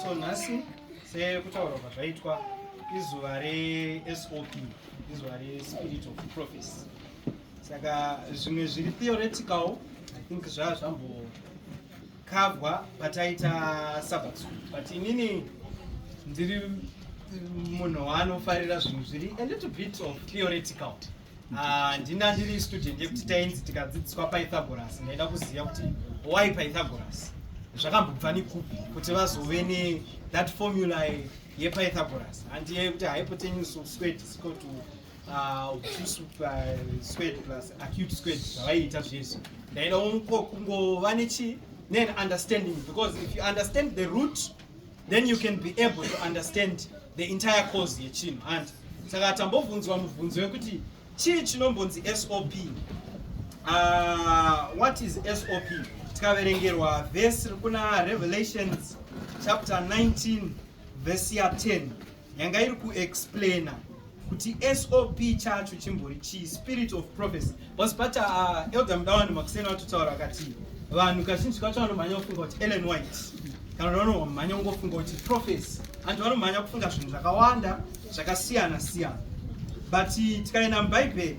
So nhasi sekutaurwa kwazvaitwa izuva resop izuva respirit of prophecy saka zvimwe zviri theoretical i think zvaa zvambokavwa pataita sabbat school but inini ndiri munhu waanofarira zvinhu zviri a little bit of theoretical Ah, ndina ndiri student yekuti tainzi tikadzidziswa pythagoras ndaida kuziva kuti why pythagoras zvakambobva nekupi kuti vazove ne that formula yepythagoras handiye yekuti hypotenuse of squared is equal to ah, obtuse ah, squared plus acute squared zvavaiita zvese ndaida kungova nechi neunderstanding because if you understand the root then you can be able to understand the entire cause yechinhu handi saka tambobvunzwa mubvunzo wekuti chii chinombonzi sop uh, what is sop tikaverengerwa vhesi rikuna revelations chapter 19 vhesi ya 10 yanga iri kuexplaina kuti sop chacho chimbori chii spirit of prophecy bcause pacha uh, elder mudawani makuseni vatotaura vakati vanhu kazhinji kacho vanomhanya kufunga kuti ellen white kana kuti vanomhanya kungofunga kuti prophecy anti vanomhanya kufunga zvinhu zvakawanda zvakasiyana siyana but tikaenda mubhaibheri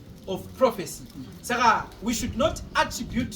of prophecy saka we should not attribute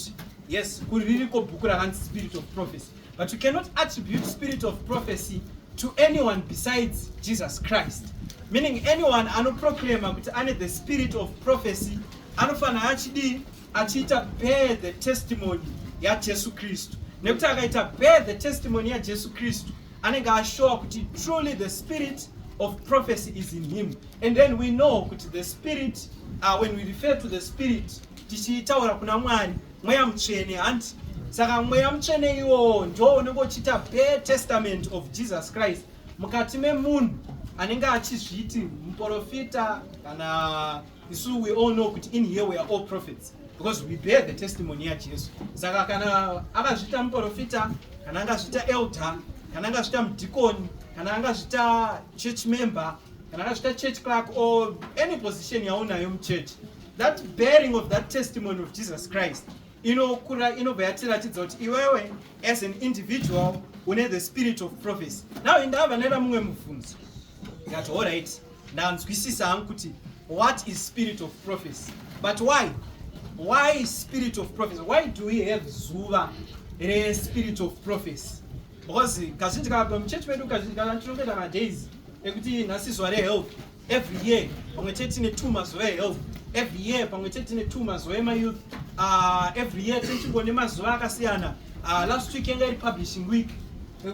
yes kuri ririko bhuku rakanzi spirit of prophecy but we cannot attribute spirit of prophecy to anyone besides jesus christ meaning anyone anoproclama kuti ane the spirit of prophecy anofanira achidii achiita bear the testimony yajesu kristu nekuti akaita bear the testimony yajesu kristu anenge ashowa kuti truly the spirit of prophecy is in him and then we know kuti the spirit uh, when we refer to the spirit tichitaura kuna mwari mweya mutsvene hanti saka mweya mutsvene iwowo ndo unenge uchiita bare testament of jesus christ mukati memunhu anenge achizviti muprofita kana isu we all know kuti in here we are all prophets because we bear the testimony yajesu saka kana akazviita muprofita kana angazviita elder kana angazviita mudhikoni kana angazviita church member kana angazviita church clark or any position yaunayo muchurch that bearing of that testimony of jesus christ inokura inobva yatiratidza kuti iwewe as an individual une the spirit of prophecy now indava vanoenda mumwe mubvunzo ndati all right ndanzwisisa hangu kuti what is spirit of prophecy but why why spirit of prophecy why do we have zuva respirit of prophecy because kazhinji kava muchechi medu kazhinji kana tinokuita madays ekuti nhasi zuva rehealth every year pamwe chete tine two mazuva ehealth every year pamwe chete tine two mazuva emayouth uh, every year tinchingo nemazuva akasiyana uh, last week yanga iri publishing week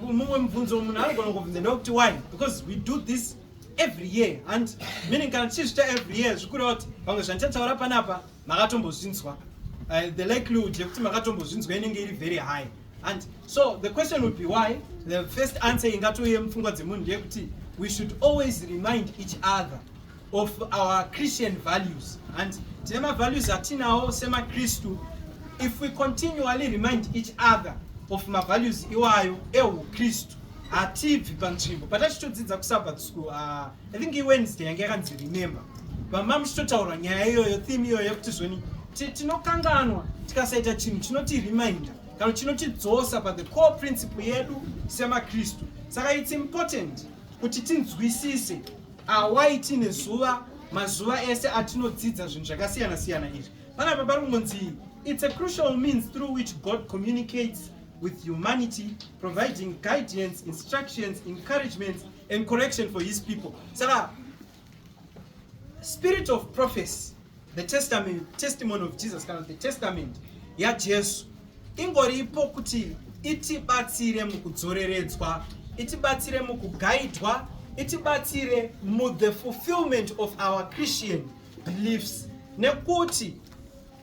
mumwe mubvunzo munhu anogona kubvunza ndokuti why because we do this every year and meaning kana tichizvita every year zvikureva kuti pamwe zvandichataura panapa makatombozvinzwa uh, the likelihood yekuti makatombozvinzwa inenge iri very high and so the question would be why the first answer ingatouye mupfungwa dzemunhu ndeyekuti we should always remind each other of our christian values and tine mavalues atinawo semakristu if we continually remind each other of mavalues iwayo eukristu hatibvi panzvimbo but achitodzidza kusabbat school uh, i think iwednesday yange yakanzi remember vama muchitotaura nyaya iyoyo theme iyoyo yekuti zvoni tinokanganwa tikasaita chinhu chinotireminder kana chinotidzosa pa the core principle yedu semakristu saka its important kuti tinzwisise awai tiine zuva mazuva ese atinodzidza zvinhu zvakasiyana siyana izvi panapa pari kungonzi its a crucial means through which god communicates with humanity providing guidance instructions encouragement and correction for his people saka spirit of prophecy the testament testimony of jesus kana the testament yajesu ingoripo kuti itibatsire mukudzoreredzwa itibatsire mukugaidwa itibatsire muthe fulfillment of our christian beliefs nekuti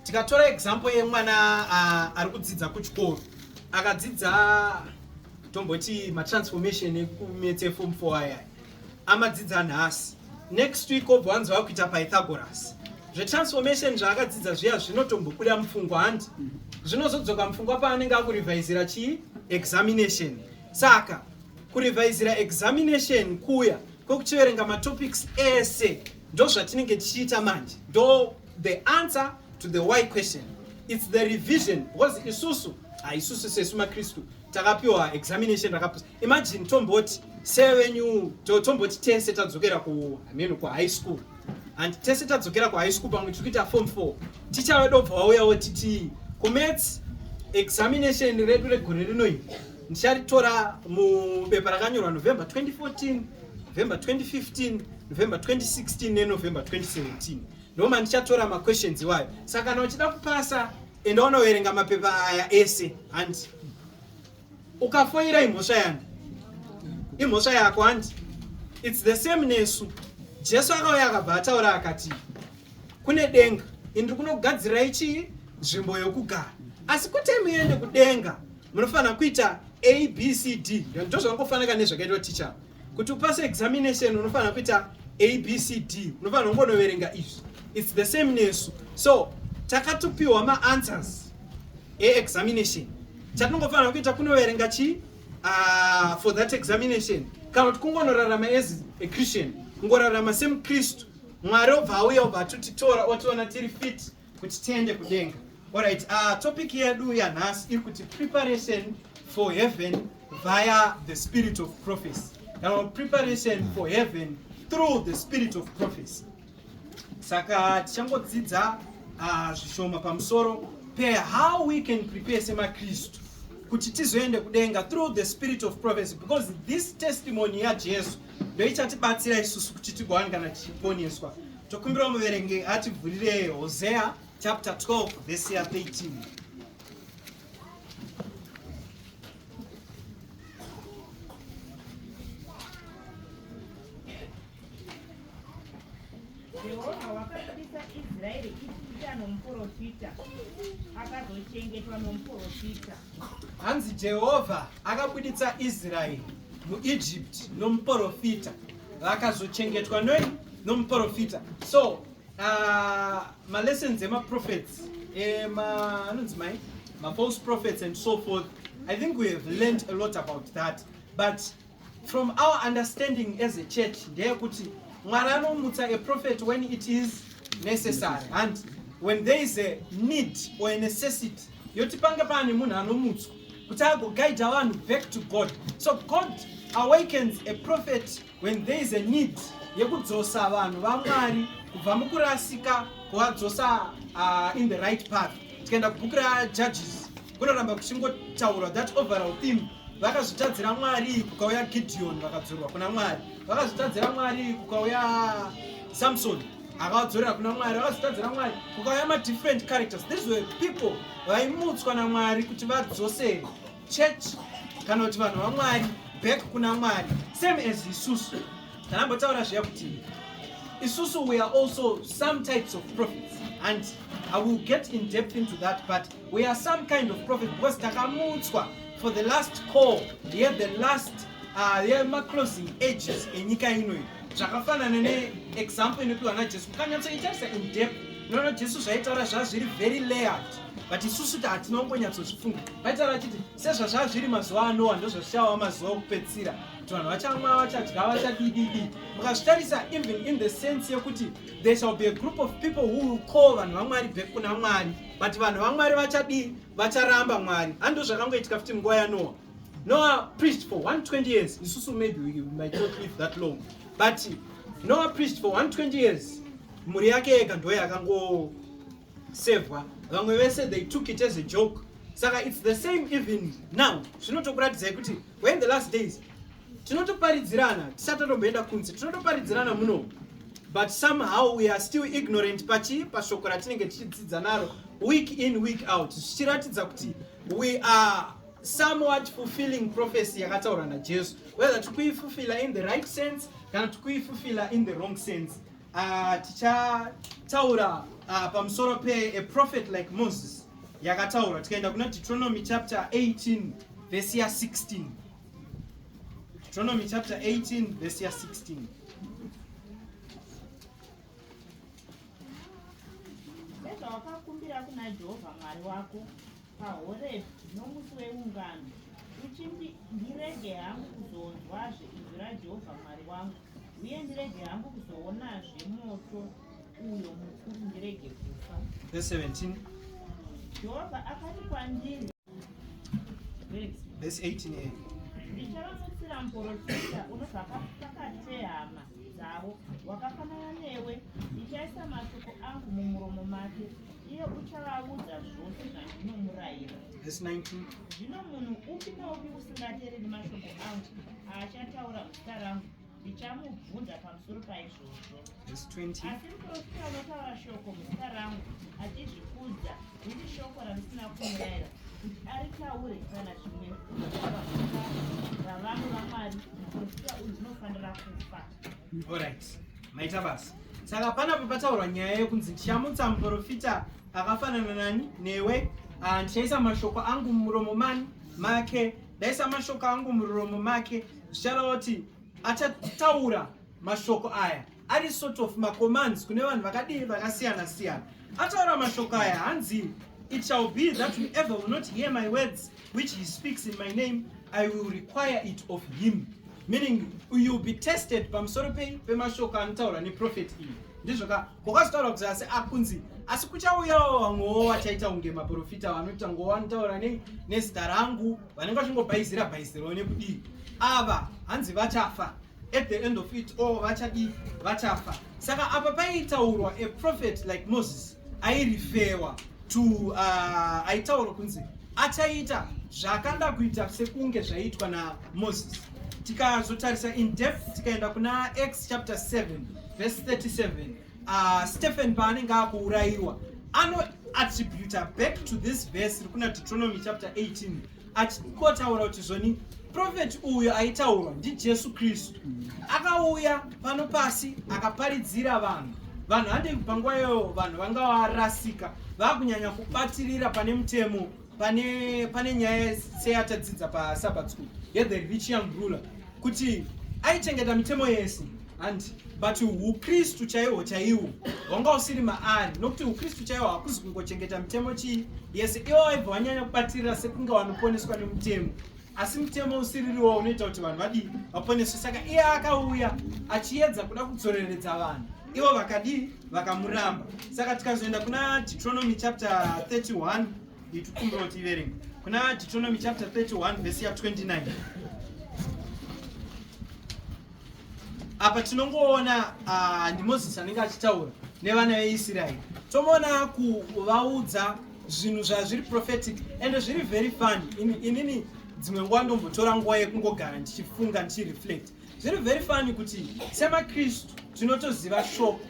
tikatora example yemwana uh, ari kudzidza kuchikoro akadzidza tomboti matransformation ekumetse form fo aya amadzidza nhasi next week obva wanzi vakuita pythagoras zvetransformation zvaakadzidza zviya zvinotombobuda mupfungwa handi zvinozodzoka mupfungwa paanenge akurevhaizira chii examination saka kurevhaizira examination kuya kwekuchiverenga matopics ese ndozvatinenge tichiita manje ndo The answer to the why question it's the revision because isusu haisusu sesu makristu takapiwa examination rakapusa imagine tomboti sevenyu tomboti tese tadzokera ku I mean, ku high school and tese tadzokera ku high school pamwe tiri kuita form four ticha vedu obva wauyawo titi kumets examination redu regore rino iri ndicharitora mubepa rakanyorwa november 2014 november 2015 november 2016 nenovember 2017 Ndoo mandichatora maquestions iwayo. Saka kana uchida kupasa enda unoverenga mapepa aya ese hanti. Ukafoira imhosva yani. Imhosva yako hanti. It's the same nesu. Jesu akauya akabva ataura akati kune denga indri kunogadzirai chii nzvimbo yokugara asi kuti muende kudenga munofanira kuita abcd ndozvangofanira nezvakaitwa ticha kuti upase examination unofanira kuita abcd unofanira kungonoverenga izvi its the same nesu so takatopiwa maanswers eexamination chatinongofanira kuita kunoverenga chii uh, for that examination kana kuti kungonorarama as a christian kungorarama semukristu mwari obva auya obva atutitora otiona tiri fit kuti tiende kudenga Alright, uh, topic yedu yanhasi iri kuti preparation for heaven via the spirit of prophecy kana preparation for heaven through the spirit of prophecy saka tichangodzidza uh, zvishoma pamusoro pe how we can prepare semakristu kuti tizoende kudenga through the spirit of prophecy because this testimony yajesu ndoichatibatsira isusu kuti tigowanikana tichiponeswa Tokumbira muverenge ativhurire Hosea chapter 12 verse ya 13. Jehovha wakabudisa Israeri Ijipita nomuprofita, akazochengetwa nomuprofita. Hanzi Jehovha akabuditsa Israeri muIjipiti nomuprofita, rakazochengetwa noi nomuprofita so uh, malessons emaprophets anonzi mai mafalse prophets and so forth i think we have learned a lot about that but from our understanding as a church ndeyekuti mwari anomutsa a prophet when it is necessary and when there is a need or a necessity yoti pange paane munhu anomutswa kuti agoguida vanhu back to god so god awakens a prophet when there is a need yekudzosa vanhu vamwari kubva mukurasika kuvadzosa uh, in the right path tikaenda kubhuku rajudges kunoramba kuchingotaurwa that overall theme vakazvitadzira mwari kukauya gideon vakadzorwa kuna mwari vakazvitadzira mwari kukauya samsoni akavadzorera kuna mwari vakazotadzira mwari kukauya madifferent characters these were people vaimutswa namwari kuti vadzosere church kana kuti vanhu vamwari back kuna mwari same as isusu tanambotaura zviya kuti isusu we are also some types of prophets and i will get in depth into that but we are some kind of prophet because takamutswa for the last call ye the last uh, yemaclosing ages enyika inoyi zvakafanana neexample inopiwa najesu mukanyatsoitarisa in depth unoona jesu zvaitaura zvaa zviri very layered but isusu ti hatina kungonyatsozifunga vaitaura achiti sezvazvaa zviri mazuva anowa ndozvazvichava mazuva okupedzisira kuti vanhu vachamwa vachadya vachadididi mukazvitarisa even in the sense yekuti there shall be a group of people who will call vanhu vamwari back kuna mwari but vanhu vamwari vachadii vacharamba mwari handizvo zvakangoitika futi munguva yanowa Noah preached for 120 years. Isusu maybe we might not live that long. But Noah preached for 120 years. Mhuri yake yega ndoye akangosevwa. Vamwe vese they took it as a joke. Saka it's the same even now. Zvinotokuratidzai kuti we're in the last days. Tinotoparidzirana, tisati tatomboenda kunze. Tinotoparidzirana muno. But somehow we are still ignorant pachi pashoko ratinenge tichidzidza naro week in week out. Zvichiratidza kuti we are somewhat fulfilling prophecy yakataura najesu whether tikuifulfilla in the right sense kana tikuifulfilla in the wrong sense uh, tichataura uh, pamusoro pe a prophet like moses yakataura tikaenda kuna deuteronomy chapter 18 vhesi ya 16 deuteronomy chapter 18 vhesi ya 16 nezvawakakumbira kuna jehovha mwari wako paHorebhi nomusi weungano, uchiti, Ndirege hangu kuzonzwazve izwi raJehovha Mwari wangu, uye ndirege hangu kuzoonazve moto uyo mukuru, ndirege kufa. Verse 17. Jehovha akati kwandiri, Verse Verse 18a. ndichavamutsira muporofita unobva pa- pakati pehama dzavo wakafanana newe ndichaisa mashoko angu mumuromo make iye uchavaudza zvose zvandinomurayira zvino munhu upi naupi usingateereri mashoko angu aachataura zita rangu ndichamubvunza pamusoro paizvozvo asi muprofita unotaura shoko muzita rangu achizvikudza Riri shoko ramusina kumuraira kuti aritaure kana zvimwe ravanhu vamwari muprofita uyu zvinofanira kufa orit maita basa saka panapo pataurwa nyaya yekunzi ndichamutsa muprofita akafanana nani newe ah, ndichaisa mashoko angu mumuromo mani make ndaisa mashoko angu muromo make zvicharaoti achataura mashoko aya ari sort of macommands kune vanhu vakadii vakasiyana siyana ataura mashoko aya hanzi it shall be that whoever will not hear my words which he speaks in my name i will require it of him meaning youll be tested pamusoro pei pemashoko anotaura neprofeti iyi ndizvo ka kwakazotaura kuti asi akunzi asi kuchauyawo vamwewo vachaita kunge maprofita vanoita ngowo vanotaura nei nezita rangu vanenge vachingobhaizira bhaizirawo nekudii ava hanzi vachafa at the end of it all vachadii vachafa saka apa paitaurwa a prophet like moses airifewa to uh, aitaurwa kunzi achaita zvakanda kuita sekunge zvaiitwa namoses tikazotarisa in depth tikaenda kuna x chapter 7 verse 37 uh, stephen paanenge akuurayiwa anoattributa back to this verse rikuna deuteronomy chapter 18 achingotaura kuti zvoni profeti uyu aitaurwa ndijesu kristu akauya pano pasi akaparidzira vanhu vanhu handei kubva nguva iyoyo vanhu vanga varasika vakunyanya kubatirira pane mutemo pane pane nyaya seyatadzidza pasabat school yethe rich young ruler kuti aichengeta mitemo yese and but ukristu chaihwo chaiwo hwanga usiri maari nokuti ukristu chaihwo hakuzi kungochengeta mitemo chii yese ivo vaibva vanyanya kubatirira sekunge vanoponeswa nemutemo asi mutemo usiririwo unoita kuti vanhu vadii vaponeswe saka iye akauya achiedza kuda kudzoreredza vanhu ivo vakadii vakamuramba saka tikazoenda kuna deuteronomy chapter 31 nditikumbirawo tiverenge kuna deuteronomy chapter 31 vhesi ya 29 apa tinongoona ah, ndimozisi anenge achitaura nevana veisraeri tomoona kuvaudza zvinhu zvazviri prophetic ende zviri very fun inini dzimwe nguva ndombotora nguva yekungogara ndichifunga ndichireflect Zviri very funny kuti semaKristu tinotoziva shoko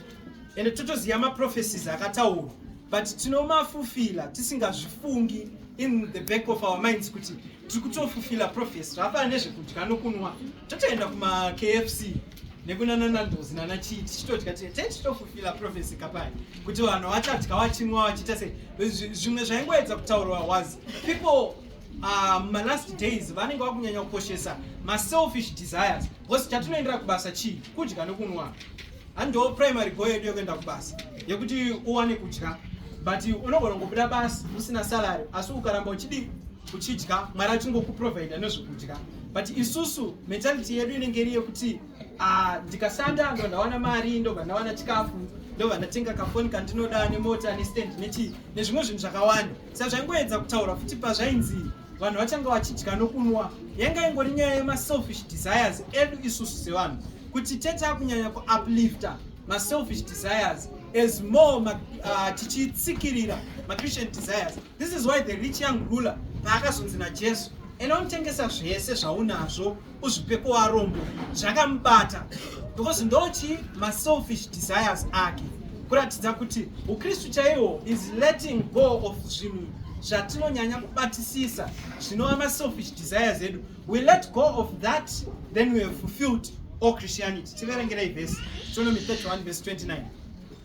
ende totoziva maprophecies akataurwa but tinomafufila tisingazvifungi in the back of our minds kuti tiri kutofufila prophecy zvafana nezvekudya nokunwa totoenda kumakfc nekunana nandozi nana chii tichitodya tichitofufila prophecy kapai kuti vanhu vachadya vachinwa vachiita sei zvimwe zvaingoedza kutaurwa was people Ah, mumalast um, days vanenge vakunyanya kukoshesa maselfish desires because chatinoendera kubasa chii kudya nekunwa handiwo primary goal yedu yekuenda kubasa yekuti uwane kudya but unogona kungobuda basi usina salary asi ukaramba uchidii uchidya mwari achingokuprovidha nezvekudya but isusu mentality yedu inenge iri yekuti ah, ndikashanda ndo ndawana mari ndobva ndawana chikafu ndobva ndatenga kafoni kandinoda nemota nestand nechii nezvimwe zvinhu zvakawanda Sezvaingoedza kutaura futi pazvainzi vanhu vachanga vachidya nokunwa yanga ingori nyaya yemaselfish desires edu isusu sevanhu kuti tete akunyanya kuuplifter maselfish desires as more ma, uh, tichitsikirira machristian desires this is why the rich young ruler paakazonzi najesu enda unotengesa zvese zvaunazvo uzvipepo warombo zvakamubata because ndochi maselfish desires ake kuratidza kuti ukristu chaiwo is letting go of zvinhu zvatinonyanya kubatisisa zvinova maselfish desires edu we let go of that then we have fulfilled all christianity tiverengerei vhesi deuteronomy 31 vhesi 29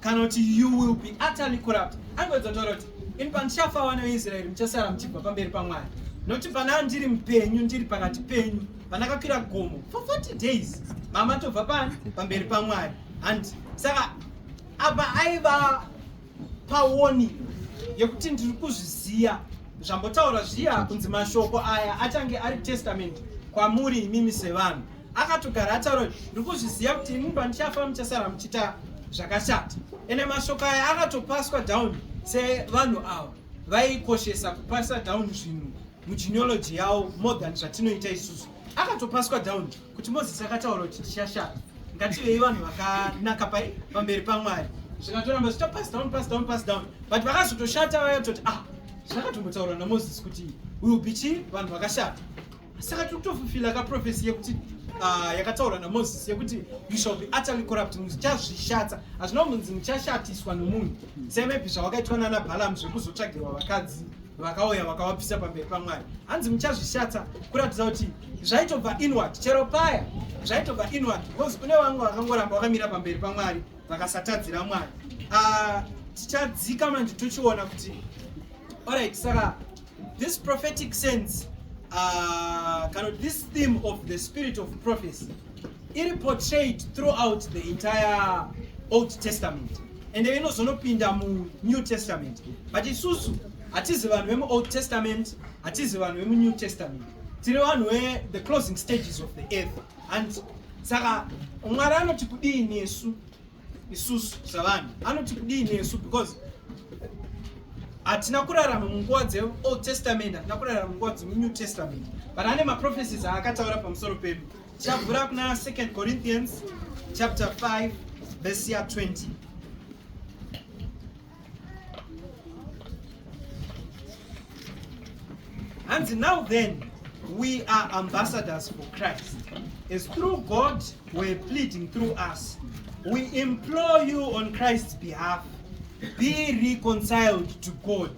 kana kuti you will be utterly corrupt angozotaura kuti ini pandichafa vana veisraeri muchasara muchibva pamberi pamwari nokuti panaa ndiri mupenyu ndiri pakati penyu pandakakwira gomo for 40 days mama tobva pani pamberi pamwari and saka apa aiva pawoni yekuti ndiri kuzviziva zvambotaura zviya kunzi mashoko aya achange ari testament kwamuri imimi sevanhu akatogara ataura kuti ndiri kuzviziva kuti ini pandichafa muchasara muchiita zvakashata ende mashoko aya akatopaswa down sevanhu ava vaikoshesa kupasa down zvinhu mugeneology yavo more than zvatinoita isusu akatopaswa down kuti moses akataura kuti tichashata ngativei vanhu vakanaka pamberi pamwari zvikatoramba zvichita pass down pass down pass down but vakazotoshata vaya toti ah zvakatombotaurwa namoses kuti will be chii vanhu vakashata saka tiri kutofufila ka profesi yekuti ah, yakataurwa namozisi yekuti you shall be utterly corrupt muchazvishatsa hazvina kumunzi muchashatiswa nomunhu semepi zvawakaitwa nana balamu zvekuzotsvagirwa vakadzi vakauya vakawapisa pamberi pamwari hanzi muchazvishatsa kuratidza kuti zvaitobva inward chero paya zvaitobva inward because kune vamwe vakangoramba vakamira pamberi pamwari vakasatadzira mwari ah, tichadzika manje tochiona kuti orit saka This prophetic sense uh, kind of this theme of the spirit of prophecy iri portrayed throughout the entire Old Testament and then inozonopinda mu New Testament but isusu hatizi vanhu vemu Old Testament hatizi vanhu vemu New Testament tiri vanhu we the closing stages of the earth and saka mwari anoti kudii nesu isusu savanhu anoti kudii nesu because hatina kurarama munguva dzeold testament hatina kurarama munguva dzemunew testament but ane maprophecies aakataura pamusoro pedu tichavhura kuna 2 corinthians chapter 5 verse ya 20 hanzi now then we are ambassadors for christ as through god were pleading through us we implore you on christ's behalf be reconciled to god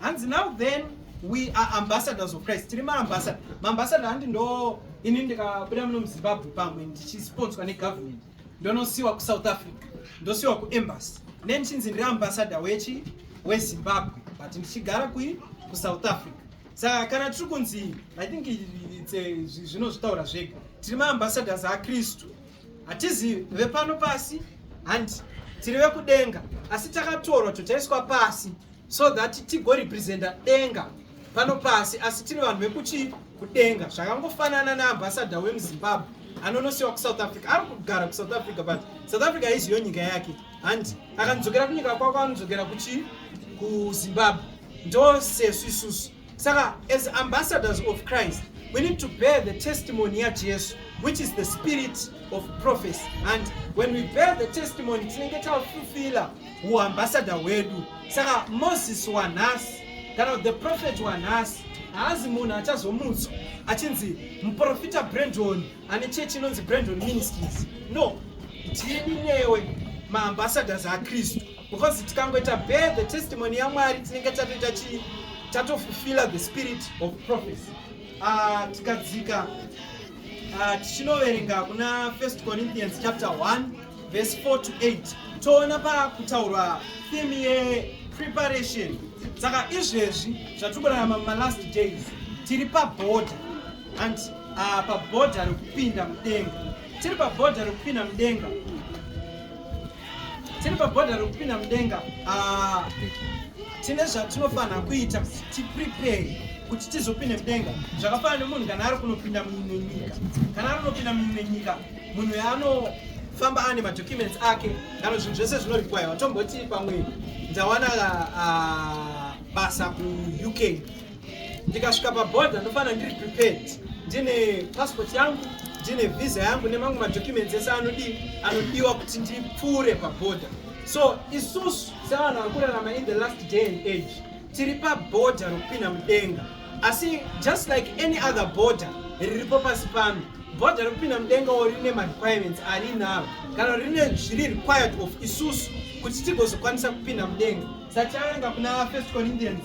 hanzi now then we are ambassadors of christ tiri maambasada maambasada handi ndo ini ndikabuda muno muzimbabwe pamwe ndichisponswa negovernment ndonosiwa kusouth africa ndosiwa kuembassy ne ndichinzi ndiri ambassador wechi wezimbabwe but ndichigara kui kusouth africa saka kana tiri kunzi i think zvinozvitaura zvega tiri maambassadors akristu hatizi vepano pasi handi tiri vekudenga asi takatorwa totaiswa pasi so that tigo representa denga pano pasi asi tiri vanhu vekuchii kudenga zvakangofanana naambasada wemuzimbabwe anonosiwa kusouth africa ari kugara kusouth africa but south africa haiziyo nyika yake handi akanzokera kunyika kwako anodzokera kuchii kuzimbabwe ndo sesu isusu Saka as ambassadors of Christ we need to bear the testimony ya Jesu which is the spirit of prophecy and when we bear the testimony tinenge tafulfila uambassador hwedu saka moses wanhasi kana kuti the prophet wanhasi haazi munhu achazomutswa achinzi muprofita brendon ane chechi inonzi brandon ministries no tiri newe maambassadors akristu because tikangoita bear the testimony yamwari tinenge tatoita chii tatofulfilla the spirit of prophecy ah, tikadzika ah, tichinoverenga kuna first corinthians chapter 1 verse 4 to 8 toona pakutaurwa theme yepreparation saka izvezvi zvatikurarama mumalast days tiri paboda and uh, ah, pabhodha rekupinda mudenga tiri pabhodha rekupinda mudenga tiri pabhodha rekupinda mudenga ah, tine zvatinofanira kuita kuti tiprepare kuti tizopinde mudenga zvakafanana nemunhu kana ari kunopinda mumwe nyika kana ari kunopinda mumwe nyika munhu yaanofamba ane madocuments ake kana zvinhu zvese zvinorikwayiwa tomboti pamwe ndawana ah, basa kuuk ndikasvika paborder ndofanira ndiri prepared ndine passport yangu ndine visa yangu nemamwe madocuments ese anodii anodiwa kuti ndipfuure paborder so isusu sevanhu vari kurarama in the last day and age tiri paborder rokupinda mudenga asi just like any other border riripo pasi pano border rokupinda mudenga wo rine marequirements arinaro kana rine zviri required of isusu kuti tigozokwanisa kupinda mudenga satiaenga kuna first corinthians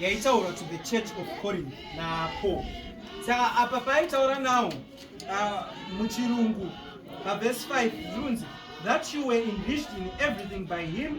yaitaura to the church of corinth napo saka apa paaitaura nawo uh, muchirungu pavhesi 5 zvinonzi that you were enriched in everything by him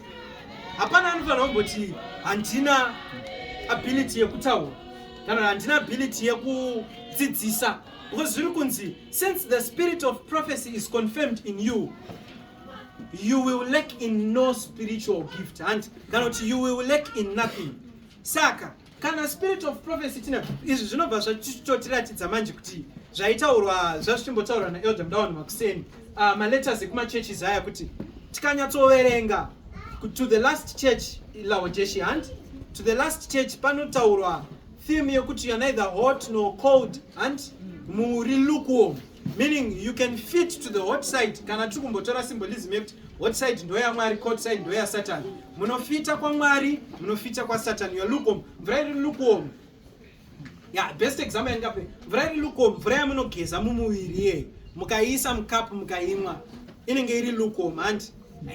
hapana anofanira kumboti handina ability yekutaura kana handina ability yekudzidzisa because zviri kunzi since the spirit of prophecy is confirmed in you you will lack in no spiritual gift and kana kuti you will lack in nothing saka kana spirit of prophecy tina izvi zvinobva zvatotiratidza manje kuti zvaitaurwa zvazvichimbotaurwa naelder mudawana makuseni uh, maletters ekumachurches aya kuti tikanyatsoverenga to the last church laodeshi hand to the last church panotaurwa theme yekuti you're neither hot nor cold hand muri lukewarm meaning you can fit to the hot side kana tiri kumbotora symbolism yekuti hot side ndoyamwari cold side ndoyasatan munofita kwamwari munofita kwasatan your lukom mvura iri lukom ya best example yandingape mvura iri lukom mvura yamunogeza mumuviri iyeyo mukaiisa mukapu mukaimwa inenge iri lukom handi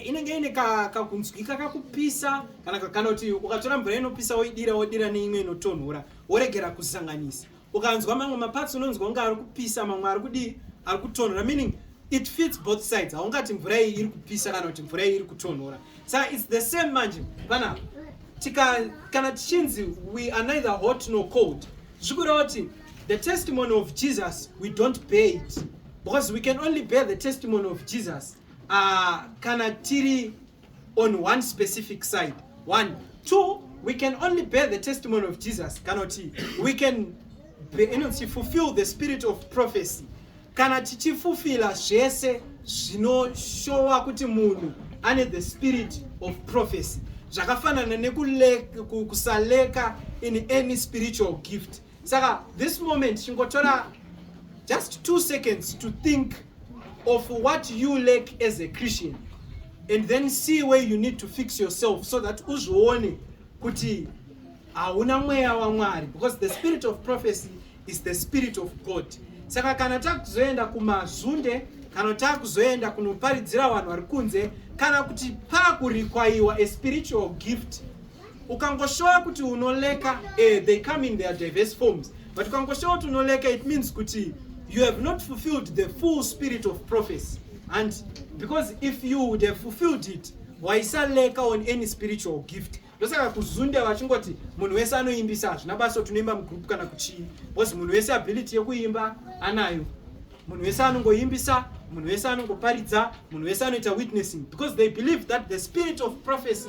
inenge ine kakunzwika kakupisa kana kakana kuti ukatora mvura inopisa woidira wodira neimwe inotonhora woregera kusanganisa ukanzwa mamwe maparts unonzwa kunge ari kupisa mamwe ari kudii ari kutonhora meaning it fits both sides haungati mvura iyi iri kupisa kana kuti mvura iyi iri kutonhora sa its the same manje panapa tika kana tichinzi we are neither hot nor cold zvikureva kuti the testimony of jesus we don't bear it because we can only bear the testimony of jesus uh, kana tiri on one specific side one two we can only bear the testimony of jesus kana kuti we can inonzi fulfill the spirit of prophecy kana tichifufila zvese zvinoshowa kuti munhu ane the spirit of prophecy zvakafanana nekusaleka in any spiritual gift saka this moment chingotora just two seconds to think of what you lack as a christian and then see where you need to fix yourself so that uzvione kuti hauna mweya wamwari because the spirit of prophecy is the spirit of god saka kana takuzoenda kumazunde kana takuzoenda kunoparidzira vanhu vari kunze kana kuti pakurikwayiwa a spiritual gift ukangoshowa kuti unoleka eh, they come in their diverse forms but ukangoshowa kuti unoleka it means kuti you have not fulfilled the full spirit of prophecy and because if you would have fulfilled it waisaleka on any spiritual gift ndosaka kuzunde vachingoti munhu wese anoimbisa hazvina basa kuti unoimba mugroup kana kuchii because munhu wese ability yekuimba anayo munhu wese anongoimbisa munhu wese anongoparidza munhu wese anoita witnessing because they believe that the spirit of prophecy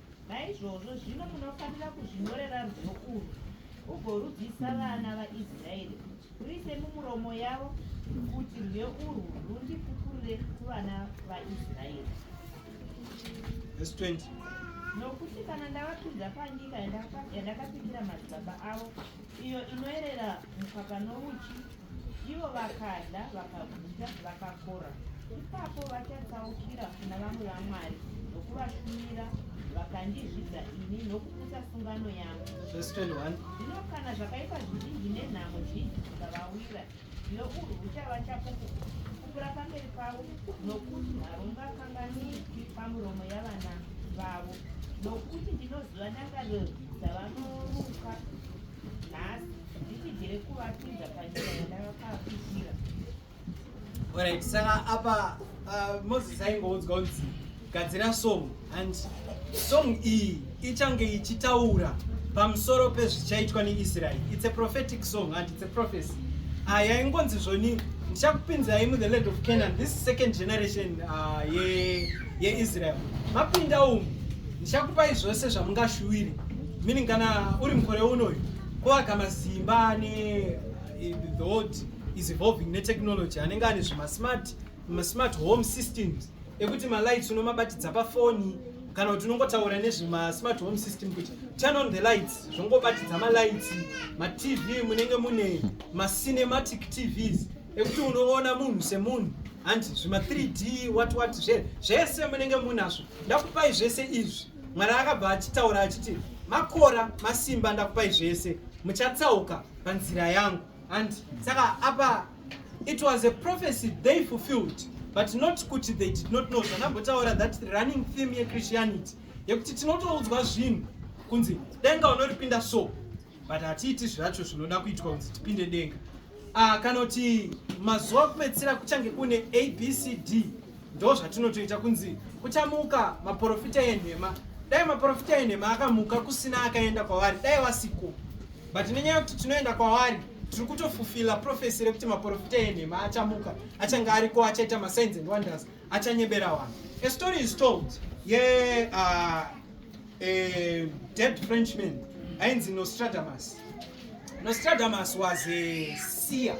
Naizvozvo zvino munofanira kuzvinyorera rwiyo urwu, ugorudzisa vana vaIsraeri kuti ruise mumuromo yavo, kuti rwiyo urwu rundipukurire kuvana vaIsraeri. Verse 20. Nokuti kana ndavapinza panyika yandaka- yandakapikira madzibaba avo, iyo inoerera mukaka nouchi, Ivo vakada, vakaguta, vakakora. Ipapo vachatsaukira kuna vamwe vamwari nokuvashumira, vakandizvidza ini nokuputsa sungano yangu. Zvino kana zvakaipa zvizhinji nenhamo zhinji zvikavawira, zvino urwu huchava chapupu kupura pamberi pavo, nokuti harungakanganwiki pamuromo yavana vavo, nokuti ndinoziva ndangariro dzavanoruka nhasi. Nditibvire kuvatunza panyika yandavakakuitira. Alright, saka apa uh, Moses aingoudzwa kunzi gadzira song and song iyi ichange ichitaura pamusoro pezvichaitwa neIsrael. It's a prophetic song and it's a prophecy. Ah, yaingonzi zvoni ndichakupinzai mu the land of Canaan this second generation uh, ye yeIsrael. Mapinda umu ndichakupai zvose zvamungashuwire. Meaning kana uri mukore unoyu Kuaka masimba ane eh, the world is evolving netechnology anenge ane zvemasmart masmart home systems ekuti malights unomabatidza pafoni kana kuti unongotaura nezvemasmart home system kuti turn on the lights zvongobatidza malights matv munenge mune macinematic tvs ekuti unoona munhu semunhu handi zvima 3d wat wat zvese munenge munazvo ndakupai zvese izvi Mwari akabva achitaura achiti, Makora masimba ndakupai zvese, muchatsauka panzira yangu. And saka apa it was a prophecy they fulfilled but not kuti they did not know zvanambotaura that running theme yechristianity yekuti tinotoudzwa zvinhu kunzi denga unoripinda so but hatiiti zvacho zvinoda kuitwa kunzi tipinde denga Ah, kana kuti mazuva kupedzisira kuchange kune abcd ndo zvatinotoita kunzi kuchamuka maporofita enhema dai maporofita enhema akamuka kusina akaenda kwavari dai vasiko but nenyaya yekuti tinoenda kwavari tiri kutofufila profesi rekuti maporofita enhema achamuka achange ariko achaita masigns and wonders achanyebera vanhu a story is told ye yeah, uh, a dead Frenchman ainzi Nostradamus. Nostradamus was a seer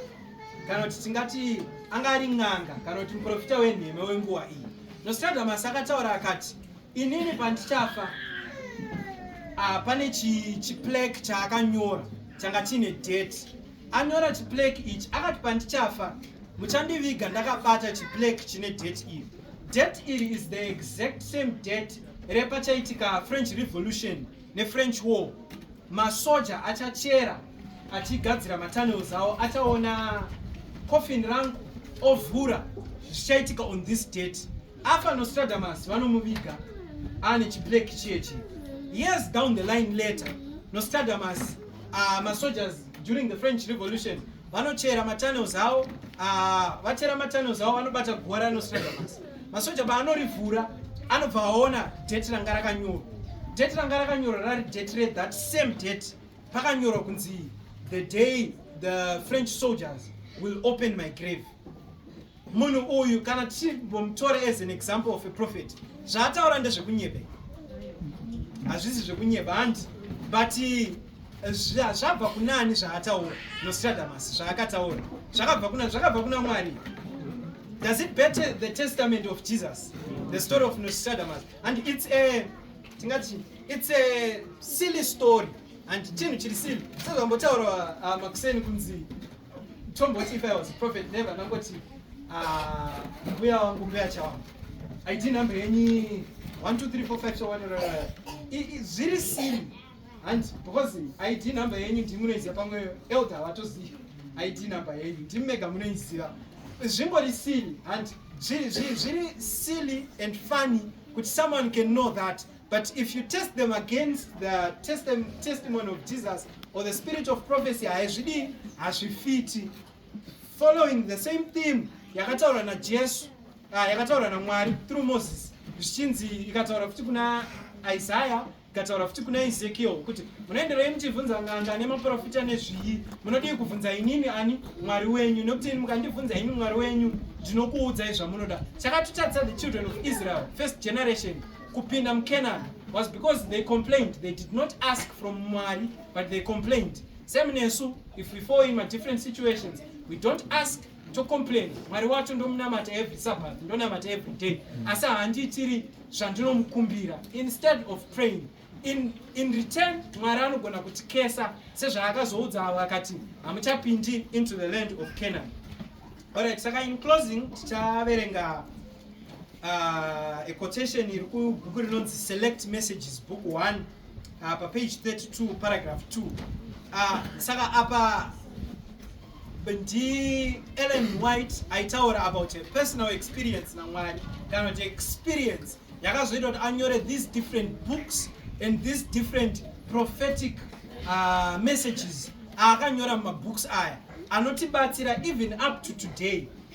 kana kuti tingati anga ari n'anga kana kuti muprofita wenhema wenguva iyi. Nostradamus akataura akati, inini pandichafa ah, pane chiplake chi chaakanyora changa chiine date. Anyora chiplake ichi akati pandichafa muchandiviga ndakabata chiplake chine date iri. Date iri is the exact same date repachaitika french revolution nefrench war masoja achachera achigadzira matunnels awo achaona coffin rangu ovhura zvichaitika on this date afa nostradamus vanomuviga ane chiblak chiyechi years down the line later nostradamus uh, masojas during the french revolution vanochera matunnels awo ah, vachera matunnels awo vanobata guva ranostrega masi masoja baanorivhura anobva aona date ranga rakanyorwa date ranga rakanyorwa rari date re that same date pakanyorwa kunzi the day the french soldiers will open my grave Munhu uyu kana tichimbomutora as an example of a prophet, zvaataura ndezvekunyeba. Hazvisi zvekunyeba handi but eh, zvabva kuna ani zvaataura Nostradamus zvaakataura zvakabva kuna zvakabva kuna Mwari. Does it better the testament of Jesus? The story of Nostradamus and it's a tingati it's a silly story and chinhu chiri silly sezvambotaura uh, makuseni kunzi tomboti if i was prophet never ndangoti ah, mbuya wangu mbuya chawangu i didn't number any 1 2 3 4 5 so 1 zviri siri and because i didn't number any ndi munoiziva pamwe elder vatoziva i didn't number any ndi mega munoiziva zvingori siri and zviri zviri silly and funny kuti someone can know that But if you test them against the testi testimony of Jesus or the spirit of prophecy, haizvidi hazvifiti. Following the same theme yakataura na Jesu, uh, ah, yakataura na Mwari through Moses, zvichinzi ikataura futi kuna Isaiah ikataura futi kuna Ezekiel kuti munoenderai muchibvunza nganga nemaprofita nezviyi, munodii kubvunza inini ani Mwari wenyu, nekuti ini mukandibvunza ini Mwari wenyu ndinokuudzai zvamunoda. Chakatotadza the children of Israel, first generation kupinda mucanaan was because they complained they did not ask from mwari but they complained same nesu if we fall in madifferent situations we don't ask tocomplain mwari wacho ndomunamata every sabbath ndonamata every day mm. asi handiitiri zvandinomukumbira instead of praying in, in return mwari anogona kutikesa sezvaakazoudza avo akati hamuchapindi into the land of canaan alright saka in closing tichaverenga uh, a quotation iri kubhuku rinonzi select messages book 1 uh, pa page 32 paragraph 2 uh, saka apa ndi ellen white aitaura about a personal experience namwari kana kuti experience yakazoita kuti anyore these different books and these different prophetic uh, messages aakanyora mumabooks aya anotibatsira even up to today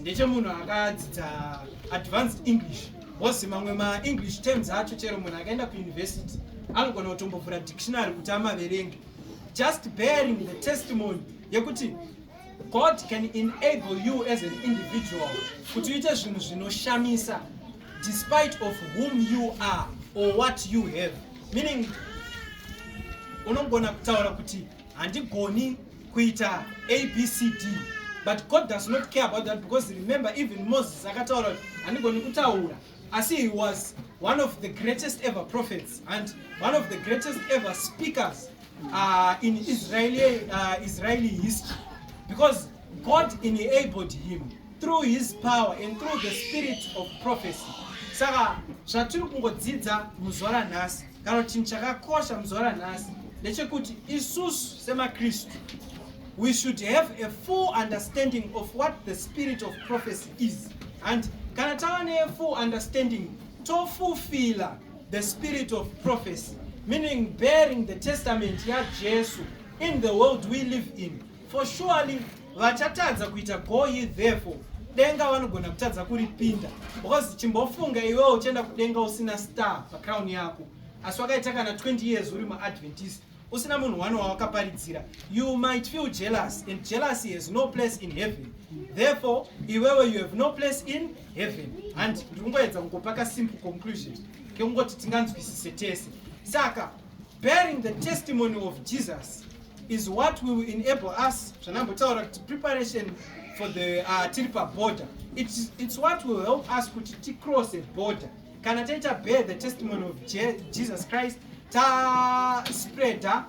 ndechemunhu akadzidza advanced english bcause mamwe maenglish terms acho chero munhu akaenda kuuniversity anogona kutombovhura dictionary kuti amaverenge just bearing the testimony yekuti god can enable you as an individual kuti uite zvinhu zvinoshamisa despite of whom you are or what you have meaning unogona kutaura kuti handigoni kuita abcd but god does not care about that because remember even moses akataura kuti handigoni kutaura asi he was one of the greatest ever prophets and one of the greatest ever speakers uh, in israeli, uh, israeli history because god enabled him through his power and through the spirit of prophecy saka zvatiri kungodzidza muzuva ranhasi kana kuti chinhu chakakosha muzuva ranhasi ndechekuti isusu semakristu we should have a full understanding of what the spirit of prophecy is and kana tava nefull understanding tofulfila the spirit of prophecy meaning bearing the testament yajesu in the world we live in For surely vachatadza kuita go ye therefore denga vanogona kutadza kuripinda because chimbofunga iwewo uchienda kudenga usina star pacrown yako asi wakaita kana 20 years uri muadventist usina munhu wani wawakaparidzira you might feel jealous and jealousy has no place in heaven therefore iwewe you have no place in heaven handi ndiri kungoedza kungopaka simple conclusion kekungoti tinganzwisise tese saka Bearing the testimony of Jesus is what will enable us zvanambotaura kuti preparation for the uh, tiri paborder it's, it's what will help us kuti ticross a border kana taita bear the testimony of Je jesus christ taspreader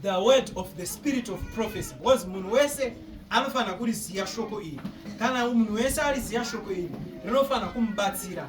the word of the spirit of prophecy because munhu wese anofanira kuriziva shoko iri kana munhu wese ariziva shoko iri rinofanira kumubatsira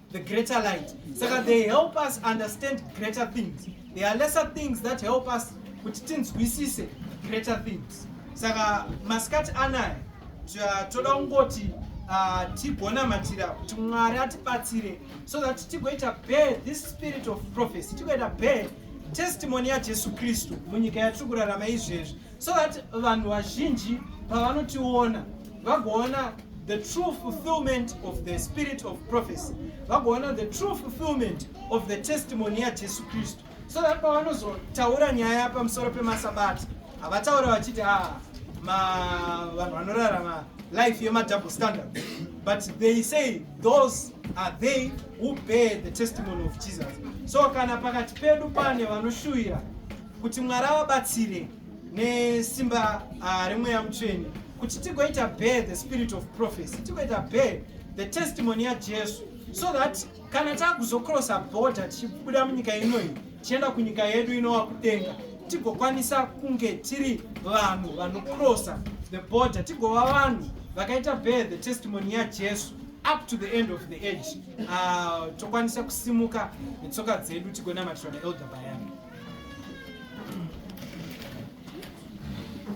the greater light saka they help us understand greater things there are lesser things that help us kuti tinzwisise greater things saka masikati anaya toda kungoti ah, tigonamatira kuti mwari atibatsire so that tigoita bear this spirit of prophecy tigoita bear testimony yajesu kristu munyika yatiri kurarama izvezvi so that vanhu vazhinji pavanotiona vagoona the true fulfillment of the spirit of prophecy vagoona the true fulfillment of the testimony yajesu kristu so that pavanozotaura nyaya pamusoro pemasabati havataura vachiti a ah, vanhu vanorarama life yemadouble standard but they say those are they who bear the testimony of jesus so kana pakati pedu pane vanoshuwira kuti mwari avabatsire nesimba ah, remweya mutsveni kuti tigoita bear the spirit of prophecy tigoita bear the testimony yajesu so that kana takuzocrossa border tichibuda munyika inoyi tichienda kunyika yedu inova kudenga tigokwanisa kunge tiri vanhu vanocrossa the border tigova vanhu vakaita bear the testimony yajesu up to the end of the age uh, tokwanisa kusimuka netsoka dzedu tigonamatirwa naelder bayani